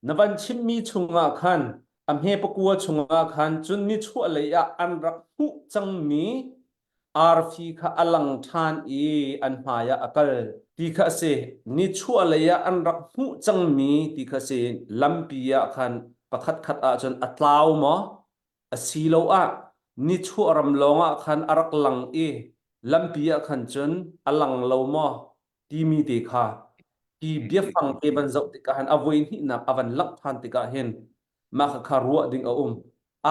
Na van chimmi chungah khan, a hme pakua chungah khan, cun nichuahlei ah an rak hmuh cangmi arfi kha a lang ṭhan i an hmaiah a kal, ti kha a si. Nichuahlei ah an rak hmuh cangmi ti kha a si, lampi ah khan pakhatkhat ahcun a tlau maw? Asiloah nichuah ram lawngah khan a rak lang i lampi ah khan cun a lang lo maw? timi te kha hi biafang te van zoh tikah hin a voihnihnak a van langh ṭhan tikah hin mah kha kha ruah ding a um.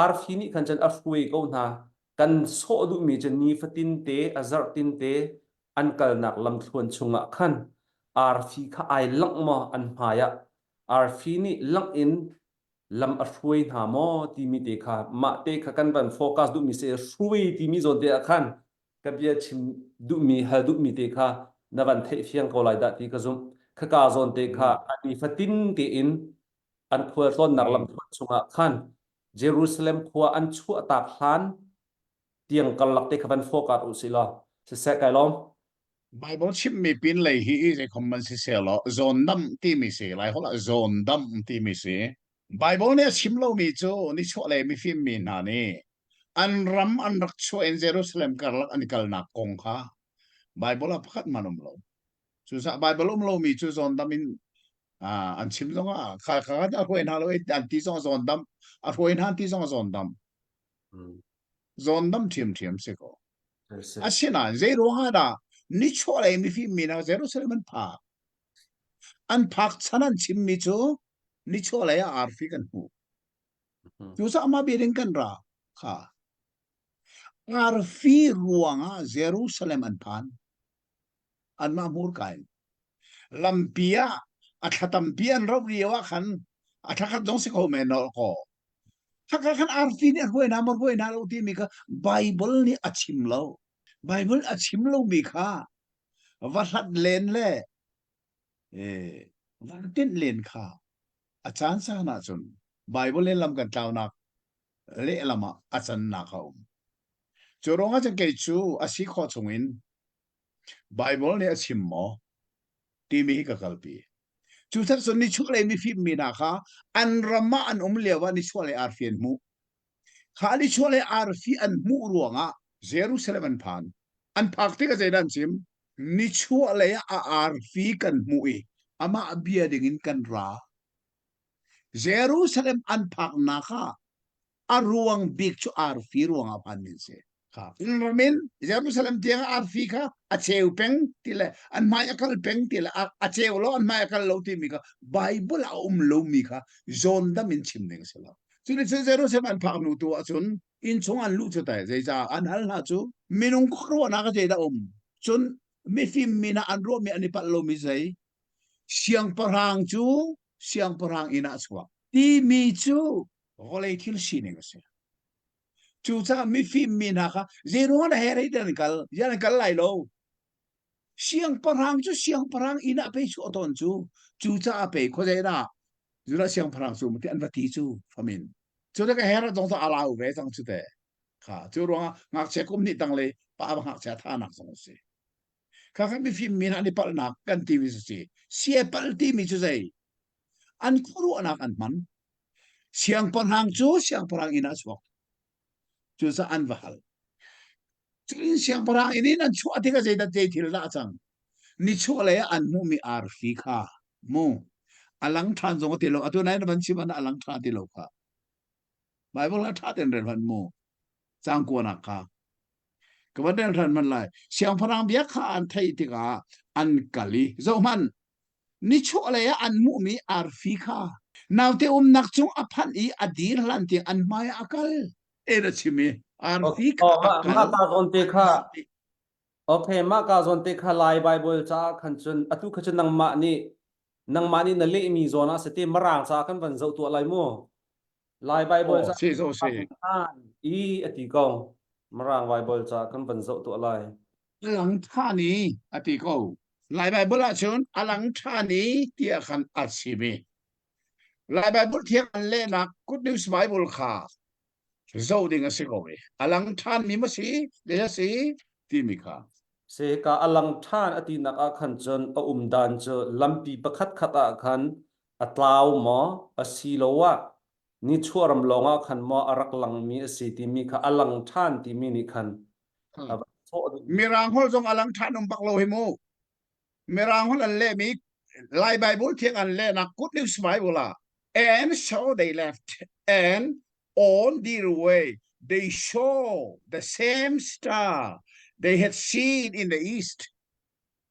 Arfi nih khan cun a hruai ko hna, kan sawh duhmi cu nifatin te, a zarhtin te an kalnak lamthluan chungah khan arfi kha ai langh maw an hmaiah? Arfi nih langh in lam a hruai hna maw timi te kha mah te kha kan van focus duhmi si hrui timi zawn te ah khan ka bia chim duhmi hal duhmi te kha na van theih fiang ko lai dah ti ka zumh. Khaka zawn te kha a nifatin tein an khualtlawnnak lamthluan chungah khan Jerusalem khua an chuahtak hlan tiang karlak te kha van hrawkar u sih law siseh kai lawm. Bible chimhmi pinlei hi zeikhom man siseh law zawn dam timi si, Laiholh ah zawn dam timi si. Bible nih a chim lomi cu nichuahlei mifimmi hna nih an ram an rak chuah in Jerusalem karlak an i kalnak kong kha Bible ah pakhat man um lo. Cucaah Bible um lomi cu zawndam in uh, an chim zongah kha kha a hruai hna lo i an ti zong zawndam a hruai hna ti zong zawndam zawndam ṭhiamṭhiam si ko asinain zei ruangah dah nichuahlei mifimmi hna Jerusalem an phak An phak chan an chimmi cu nichuahlei ah arfi kan hmuh. Cucaah mah biading kan ra kha arfi ruangah Jerusalem an phan. Anmah hmurka in. Lampi ah a thlatampi an roh lio ah khan a tlakhat zong si kho men nawl ko. Haka khan arfi nih a hruai hna, mar hruai hna lo timi kha Bible nih a chim lo. Bible a chim lomi kha va hlat len le va tinh len kha a caan san ah cun Bible in lam kan tlaunak lehlam ah a cannak a um. Cu ruang ah cun kei cu a si khawh chung in Bible nih a chim maw timi hi ka kalpi. Cu sak sun ni chuk le mi fim mi na kha an ram ah an um lio ah ni chuah le ar fian mu Kha Alichua le arfi an hmuh ruangah Jerusalem an phan. An phak tikah zeidah an chim? Nichuah lei a arfi kan hmuh i amah bia dingin kan ra. Jerusalem an phaknak ah a ruang bik cu arfi ruangah phanmi a si. min jerusalem tiang arfi kha a cheu peng ti le an hmai a kal peng ti le a cheu lo an hmai a kal lo ti mi kha bible a um lo mi kha john dam in chim ning si lo cu ni cun jerusalem an phak nu tu ahcun in chung an lu cu tai zeicah an hal hna cu minung khuaruahnak a da um cun mifim min ah an ruah mi an i palh lo mi zei siangpahrang cu siangpahrang inn ah chuak ti mi cu vawlei thil sining a si Cucaah mifim mi hna kha zeiruang na herei te an kal yan an kal lai lo. Siangpahrang cu siangpahrang inn ah pei cu aton cu cucaah pei khuazei na zula siangpahrang cu mati an va ti cu famin cu te ka her dong ta ala u ve cang cu te kha cu ruangah ngakchia kum ni tang le pa ba ngakchia tha nak zong si kha kha mifim mi hna ni palnak kan ti mi si si pal ti mi cu zei an khuaruahnak an hman siangpahrang cu siangpahrang inn ah chuak cucaah an va hal cutin siangpahrang inn in an chuah tikah zeidah zei thil dah cang nichuah lei an hmuhmi arfi kha mu a lang ṭhan zong a ti lo atu nain van chim an a lang ṭha ti lo kha Baibal ah ṭha ten ren van mu cang kuanak kha ka van ren ran man lai siangpahrang bia kha an theih tikah an kal i zohhmanh Nichuahlei ah an hmuhmi arfi kha naute umnak cung a phanh i a dir hlan tiang an hmaiah a kal. En a chim i arfi kha a kal. Mah ka zawn te kha Okay, mah ka zawn te kha Lai Bible caah khan cun atu kha cun nangmah nih nangmah nih na lehmi zawn ah sete marang caah kan van zoh tuah lai mu. Lai Baibal ca sih zo sih. An i a ti kong Mirang Baibal ca kan van zoh tuah lai. A lang ṭhan i a ti ko. Lai Baibal ahcun a lang ṭhan i tiah khan a si mi. Lai Baibal thiang an lehnak Good News Bible kha zoh ding a si ko i a lang ṭhan mi ma si le a si timi kha. Se ka a lang ṭhan a tinak ah khan cun a um dan cu lampi pakhat khat ah khan a tlau maw asiloah nichuahram lawngah khan maw a rak langmi a si timi kha a lang ṭhan timi nih khan a va sawh duh. Mirang hol zong a lang ṭhan um bak lo hi mu. Mirang hol an lehmi Lai Bible thiang an lehnak good news Bible ah and so they left and on their way they saw the same star they had seen in the east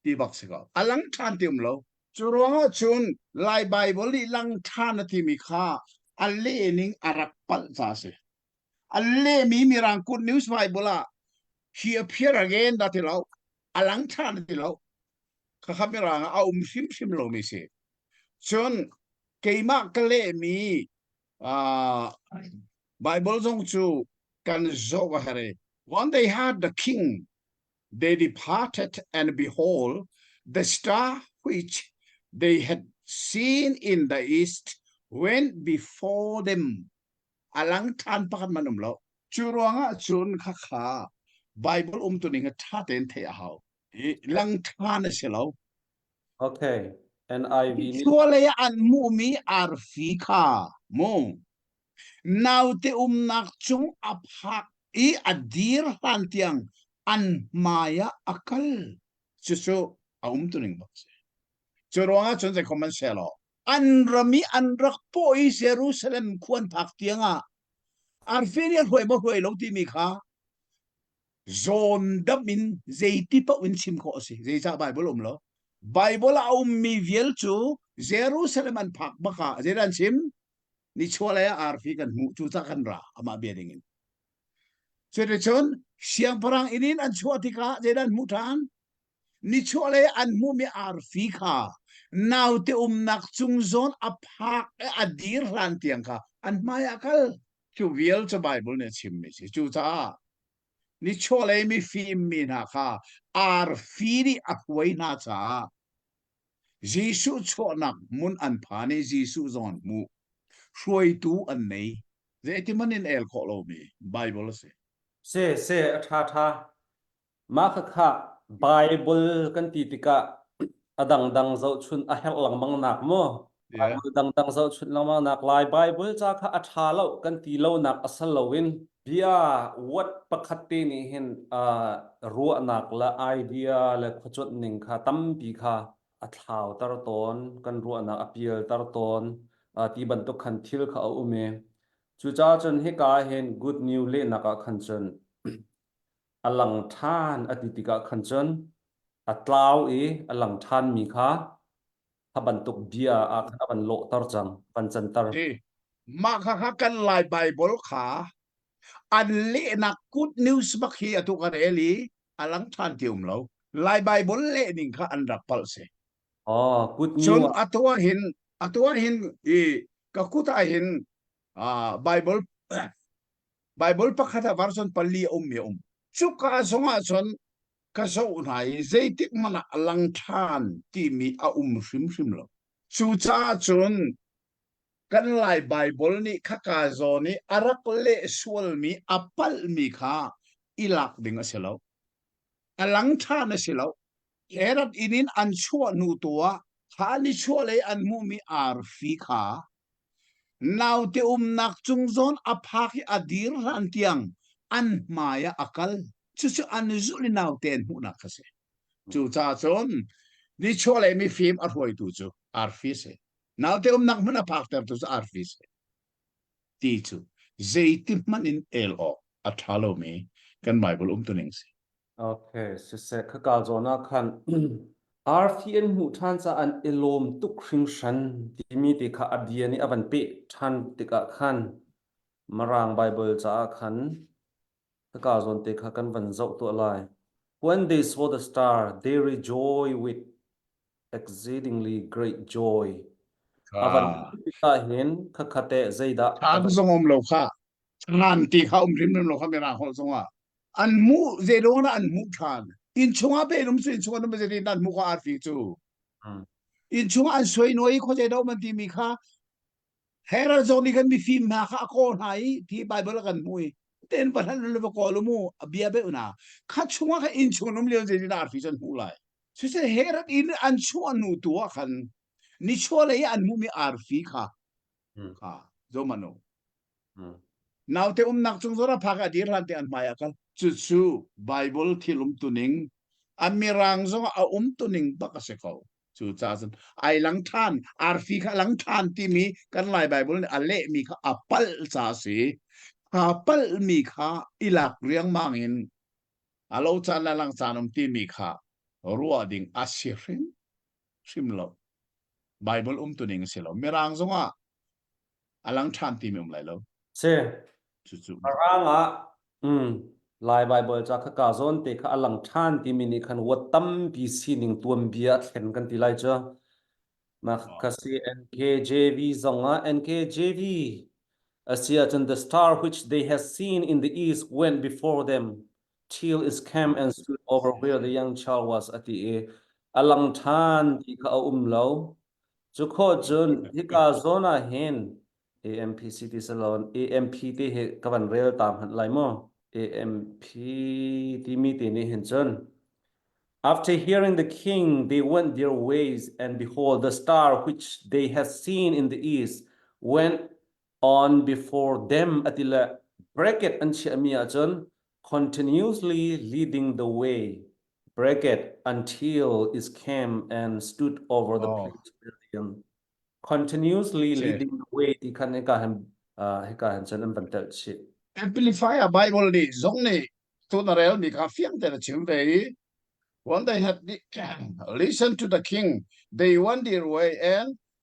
ti bak si ka a lang ṭhan ti um lo cu ruangah cun lai bible i lang ṭhan a timi kha a leh ning a rak palh ca a si a lehmi mirang good news bible ah he appear again da ti lo a lang ṭhan a ti lo khakha mirang a um hrimhrim lomi si cun keimah ka lehmi uh, bible zong cu kan zoh a herh one day had the king they departed and behold the star which they had seen in the east went before them a lang than pakhat man um lo cu ruangah cun kha kha bible um tu ning a tha ten the a hau i lang than a si lo okay and i suale an mu mi arfi kha mu Naute umnak cung a phak i a dir hlan tiang an hmai ah a kal. Cucu a um tuning bak si. Cu ruangah cun zei khom an se lo. An ram i an rak po i Jerusalem khuan phak tiang ah arfin i hruai maw hruai lo timi kha zawn dam in zeiti pa in chim khawh a si. Zeicah Bible um lo? Bible a ummi vial cu Jerusalem an phak bak ah zeidan chim? nichuahlei ah arfi kan hmuh cu tah kan ra amah bia ding in cuticun siangpahrang inn in an chuah tikah zeidah an hmuh ṭhan nichuahlei an hmuhmi arfi kha naute umnak cung zawn a phak a dir hlan tiang kha an hmai a kal cu vial cu Bible nih a chimmi si cucaah nichuahlei mifim mi hna kha arfi nih a hruai hna caah Jesuh chuahnak hmun an phan i Jesuh zong an hmuh. Hruaitu an nei. Zeitiman in el khawh lomi Baibal a si. Seh seh a ṭhaṭha. Mah khakha Baibal kan ti tikah a dangdang zohchunh a herh lengmang nak maw Baibal dangdang zohchunh lengmang nak lai Baibal ca kha a ṭha lo kan ti lonak a sal loin bia word pakhat te nih hin uh, ruahnak le idea le khuacuanh ning kha tampi kha a thlauter tawn kan ruahnak a pialter tawn uh, ti bantuk khan thil kha a um i cucaah cun hika hin good news lehnak ah khan cun a lang ṭhan a ti tikah khan cun a tlau i a lang ṭhanmi kha a bantuk bia ah khan a van lawhter cang, van canter. Mah kha kan Lai Baibal kha an lehnak good news bak hi atu kan el i a lang ṭhan ti um lo. Lai Baibal lehning kha an rak palh si. Oh, good news. Cun atu ah hin atu ah hin i ka kut ah hin ah Bible Bible pakhat ah version pali um mi um. Cuka zong ah cun ka zoh hna i zeitik hmanh ah lang ṭhan timi a um hrimhrim lo. Cucaah cun kan Lai Baibal nih khaka zawn i a rak leh sualmi a palhmi kha i lak ding a si lo. A lang ṭhan a si lo. Herod inin an chuah hnu tu ah kha ni chuah lei an hmuhmi arfi kha Naute umnak cung zawn a phak i a dir hlan tiang an hmai ah a kal. Cucu an zulh i naute an hmuhnak a si. Cucaah cun nichuahlei mifim a hruaitu cu arfi a si. Naute umnak hmun a phaktertu cu arfi a si. Ti cu zeiti hmanh in el awk a ṭha lomi kan Baibal umtuning a si. Okay, siseh, khaka zawn ah khan arfi an hmuh ṭhan caah an i lawm tuk hringhran timi ti kha a bia nih a van peh ṭhan tikah khan Mirang Baibal caah khan khaka zawn te kha kan van zoh tuah lai. When they saw the star, they rejoiced with exceedingly great joy. A van ka, hmuh tikah hin khakha teh zeidah a van thang zong um lo kha. Ngan ti kha um hrimhrim lo kha men a holh zongah an hmuh zeilawng an hmuh ṭhan inn chungah pe um su inn chungah um zetin an hmuh kha arfi cu inn chungah an suai nuai khuazei dah um an timi kha Herod zong nih khan mifim hna kha a kaw hna i ti Bible a kan hmui ten pathan lu va kaw lu mu a bia be una kha chunga kha inn chung um lion zetin arfi chan hmu lai su se Herod in an chuah nu tu a khan ni chole an mu mi arfi kha kha zomano naute umnak chung zora phak a dir hlan te an hmai akal cu cu bible thil um tuning an mirang zong a um tuning bak a si ko cu ca cun ai lang than arfi kha lang than timi kan lai bible nih a leh mi kha a pal ca si kha pal mi kha ilak riangmang in alo chan la lang chan um timi kha ruah ding a si hrim hrim lo Bible umtuning a si lo Mirang zongah a lang ṭhan timi um lai lo si cucu Mirang ah um Lai Bible ca kha ka zawn te kha a lang ṭhan timi nih khan wat tampi sining tuanbia a thlen kan ti lai cu mah ka si NKJV zongah NKJV a si ahcun the star which they have seen in the east went before them Till is camp and stood over where the young child was a ti i a lang ṭhan ti kha a um lo. Cu kho cun hika zawn ah hin AMPC ti si lo AMP ti hi ka van rel ta hmanh lai mu AMP timi ti nih hin cun After hearing the king, they went their ways, and behold, the star which they had seen in the east went on before them a ti le bracket an chiahmi ahcun continuously leading the way bracket until is came and stood over the oh. previous building continuously leading the way ti khan hika han hika han cun an van tel chih amplify a bible nih zong nih tun a rel mi kha fiang ten a chim ve i when they had listen to the king they went their way and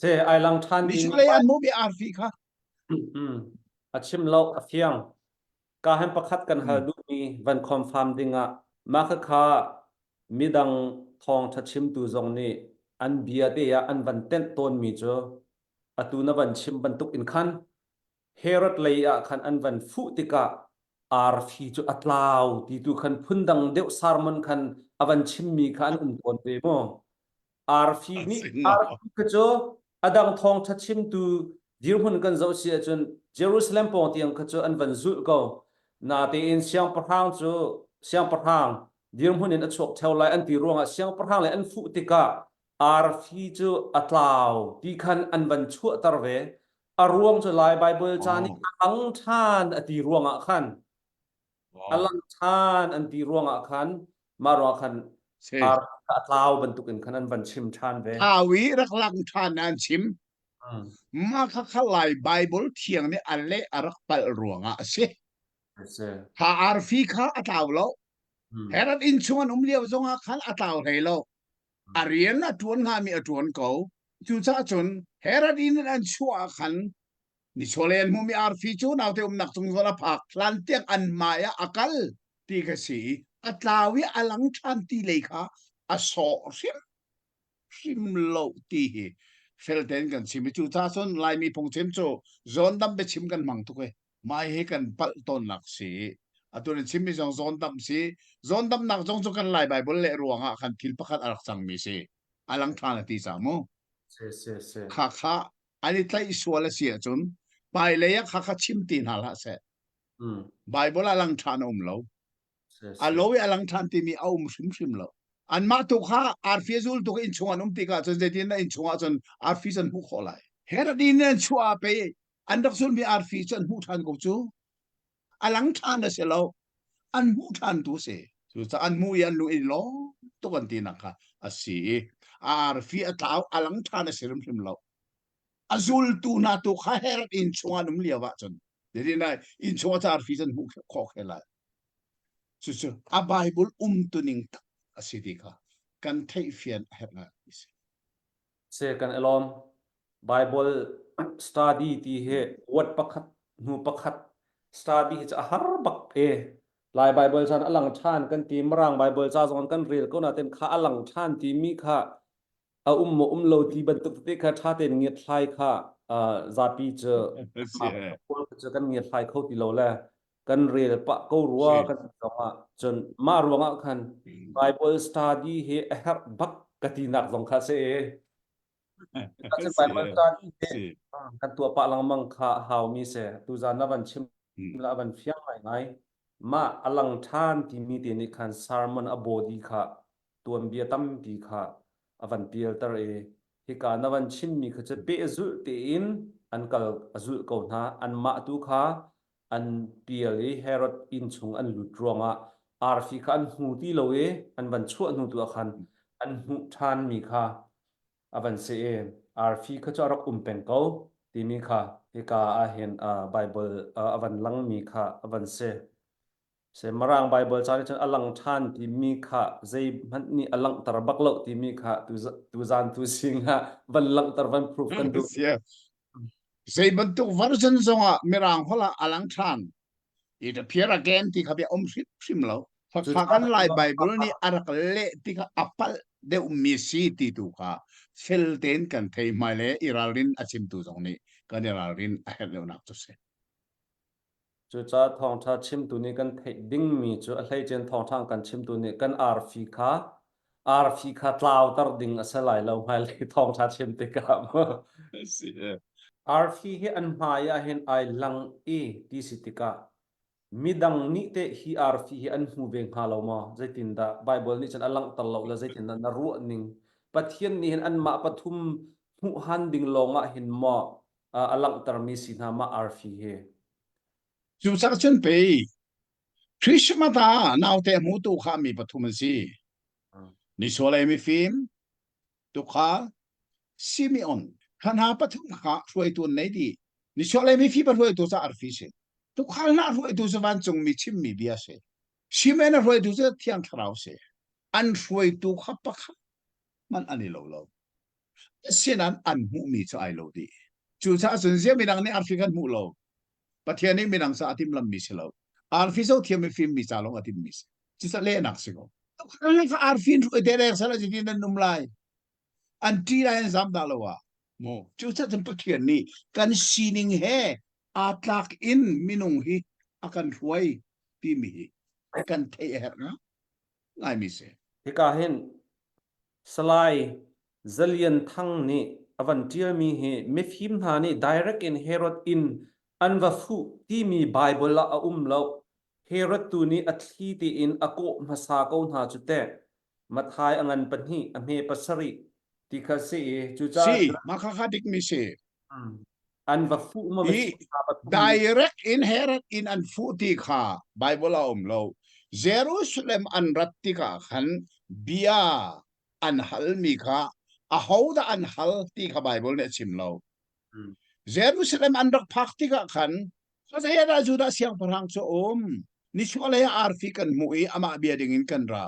Che ai lang ṭhan ding Misulei an mu bia arfi kha a chim lo a fiang. Ka han pakhat kan hal duhmi van confirm dingah mah khakha midang thawngṭha chimtu zong nih an bia te ah an van tenh tawnmi cu atu na van chim bantuk in khan Herod lei ah khan an van fuh tikah arfi cu a tlau ti tu khan phundang deuh sermon khan a van chimmi kha an um tawn ve maw? Arfi an nih sin maw? arfi kha cu a dang thawngṭha chimtu dirhmun kan zoh si ahcun Jerusalem pawng tiang kha cu an van zulh ko. Natein siangpahrang cu siangpahrang dirhmun in a chuak theo lai an ti ruangah siangpahrang le an fuh tikah Arfi cu a tlau ti khan an van chuahter ve. A ruang cu Lai Baibal ca nih a lang ṭhan a ti ruangah khan a Wow. lang ṭhan an ti ruangah khan mah ruangah khan Si. arfi kha a tlau bantukin khan an van chim ṭhan ve. Thau i rak lang ṭhan an chim. Mm. Mah khakha Lai Baibal thiang nih a leh a rak palh ruangah a si. I see. Kha arfi kha a tlau lo. Mm. Herod inn chung an um lio zongah khan a tlau hlei lo. a rian a ṭuan hngami a ṭuan ko. Cucaah cun Herod in an chuah ah khan ni chawlel hmumi arfi cu naute umnak cung zawn a phak hlantiang an hmai ah a kal ti ka si i a tlau i a lang ṭhan ti lei kha a sawh hrim hrim lo ti hi felte in kan chim i cucaah cun Laimi phungchim cu zawn dam biachim kan hmang tuk e. Mah hi kan palh tawnnak si. Atu nih chimmi zong zawndamh si. Zawndamnak zong cu kan Lai Baibal le ruangah khan thil pakhat a rak cangmi si. A lang ṭhan a ti cang mu. Si, si, si. Kha kha an i tlaih sual a si ahcun hmailei ah kha kha chim ti hna hlah seh. Mm. Baibal ah lang ṭhan a um lo. Si, si. A lo i a lang ṭhan timi a um hrimhrim lo. Anmah tu kha arfi a zul tuk in chung an um tikah cun zeitin na inn chungah cun arfi an hmuh khawh lai. Herod in an chuah a pei an rak zulmi arfi cu an hmuh ṭhan ko cu a lang ṭhan a si lo an hmuh ṭhan tu si cucaah an hmuh i an lung in lawm tuk an tinak kha a si i a arfi a tlau a lang ṭhan a si hrimhrim lo a zultu hna tu kha her inn chungah um lio ahcun Dedi nai inn chungah ca arfi an hmuh khawk he lai cucu a Bible umtuning tak a si ti kha kan theih fian a herh ngai si se kan i lawm. Bible study ti hi word pakhat hnu pakhat study hi cu a har bak e. Lai Bible chan a lang than kan ti Mirang Bible ca zong kan rel ko natin kha a lang than ti mi kha a um maw um lo ti bantuk tete kha tha tein ngiat hlai kha uh, zapi cu That's it. Kawl cu kan ngiat hlai kho ti lo le kan rel pah ko rua kan zongah cun mah ruangah khan Bible study hi a herh bak ka ti nak zong kha si Bible study hi kan tua pah lengmang kha haumi se tu zan na van chim la van fiang ngai ngai ma alang than ti mi te ni khan sermon a body kha tuan bia tam pi kha avan pial tar e hi ka na van chin mi kha che pe zul te in an kal azul ko na an ma tu kha an pial i Herod inn chung an lut ruangah arfi kha an hmu ti lo i an van chuah hnu tu ah khan an hmuh ṭhanmi kha a van si i arfi kha cu a rak um peng ko timi kha hika ah hin Baibal a van langmi kha a van si. Seh Mirang Baibal ca nih cun a lang ṭhan timi kha zeihmanh nih a langhter bak lo timi kha tuzan tu zingah van langhter van proof kan duh. Zei bantuk version zongah Mirang holh ah a lang ṭhan. It appear again ti kha bia om hrimhrim lo. Fakhakan Lai Baibal nih a rak leh ti kha a palh deuhmi si ti tu kha fel tein kan thei hmai le i ralrin a chimtu zong nih kan i ralrin a herh deuhnak cu si. Cucaah thawngṭha chimtu nih kan theih dingmi cu a hleice thawngṭha kan chimtu nih kan arfi kha arfi kha tlauter ding a si lai lo hmailei thawngṭha chim tikah. Arfi hi an hmai ah hin ai lang i ti si tikah midang nih teh hi arfi hi an hmu ve hnga lo maw? Zeitindah Baibal nih cun a langhter lo le zeitindah na ruahning Pathian nih hin anmah pathum hmuhhan ding lawngah hin maw a langhtermi si hna ma arfi hi. Cu cah cun pei Christmas ah naute hmu tu kha mi pathum an si. Ni solei mifim, tukha, Simeon, hranha pathum kha hruaitu an nei di. Ni solei mifi pa hruaitu ca arfi si. Tukhal na hruaitu cu vancung mi chimmi bia si. Simen a hruaitu cu thiang thlarau si. An hruaitu kha pakhat man an i lo lo sinan an hmuhmi cu ai lo dih cucaah cun zia midang nih arfi kan hmuh lo pathian nih midang ca a tim lammi si lo arfi zo thiam i fimmi ca lawng a timmi si cuca lehnak si ko kha arfi in ruai te dek sala jini nan num lai an ti lai an zam da lo a mu cucaah cun pathian nih kan sining he aa tlak in minung hi a kan hruai timi hi kan thei a herh nga ngaimi si. Hika hin Salai Za Lian Thang nih a van ṭialmi hi mifim hna nih direct in Herod in an va fuh timi Bible ah a um loh. Herod tu nih a thli tein a kawh hmasa ko hna cu teh. Matthai a ngan pahnih, a hme pasarih ti kha si i cucaah. Si, mah kha haa dikmi si. an va fuh ma direct inherit in an fuh ti kha bible a um lo jerusalem an rat tikah khan bia an hal mi kha ahodah an hal ti kha bible nih a chim lo jerusalem an rak phak tikah khan Sasayana Judah siangpahrang cu um ni chualei arfi kan hmu i amah bia dingin kan ra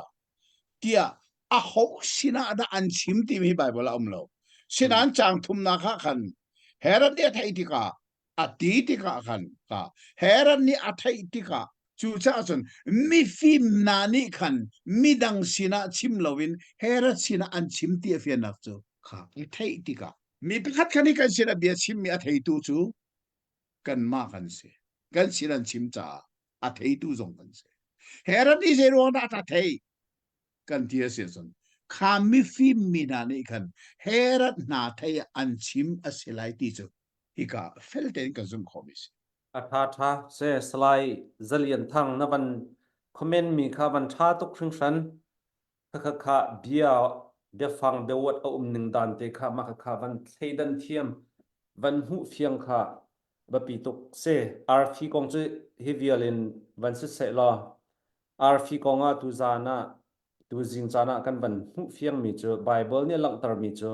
tiah aho sinah dah an chim timi Baibal a um lo. Sinan cang thumnak ah khan Herod nih a theih tikah a ti tikah khan ka Herod nih a theih tikah cu caah cun mifim hna nih khan midang sinah chim loin Herod sinah an chim ti a fiannak cu kha i theih tikah mi pakhat khan i kan sinah bia chimmi a theitu cu kanmah kan si kan sin an chim caah a theitu zong kan si Herod ti zei ruang dah ta thei kan ti a si cun kha mifim mi hna nih khan Herod hna thei an chim a si lai ti cu hika feltein kan zumh khawh mi si atha tha se salai zalian thang na van comment mi kha van tha tuk hringhran Khakha bia biafang deuawt a um ning dan te kha mah khakha van thleidan thiam van hmuh fiang kha biapi tuk si. Arfi kong cu hi vial in van si seh law arfi kong ah tuzaan ah tuzing caan ah kan van hmuh fiangmi cu Bible nih a langhtermi cu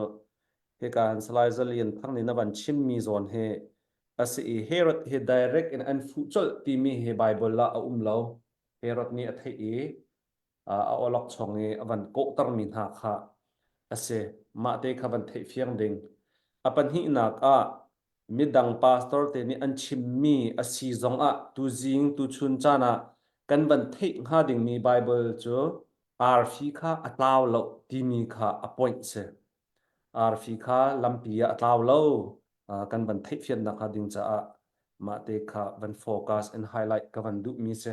hika han salai zalian thang nih na van chimmi zawn hi a si i Herod hi direct in an fuh colh timi hi Bible ah a um lo. Herod nih a theih i a awlokchong i a van kawhtermi hna kha a si. Mahte kha van theihfiang ding. A pahnihnak ah, midang pastor te nih an chimmi a si zong ah tuzing, tuchun caan ah kan van theih hnga dingmi Baibal cu arfi kha a tlau lo timi kha a point si. Arfi kha lampi ah a tlau lo kan van theihfian nakhnga ding caah mahte kha van focus and highlight ka van duhmi si.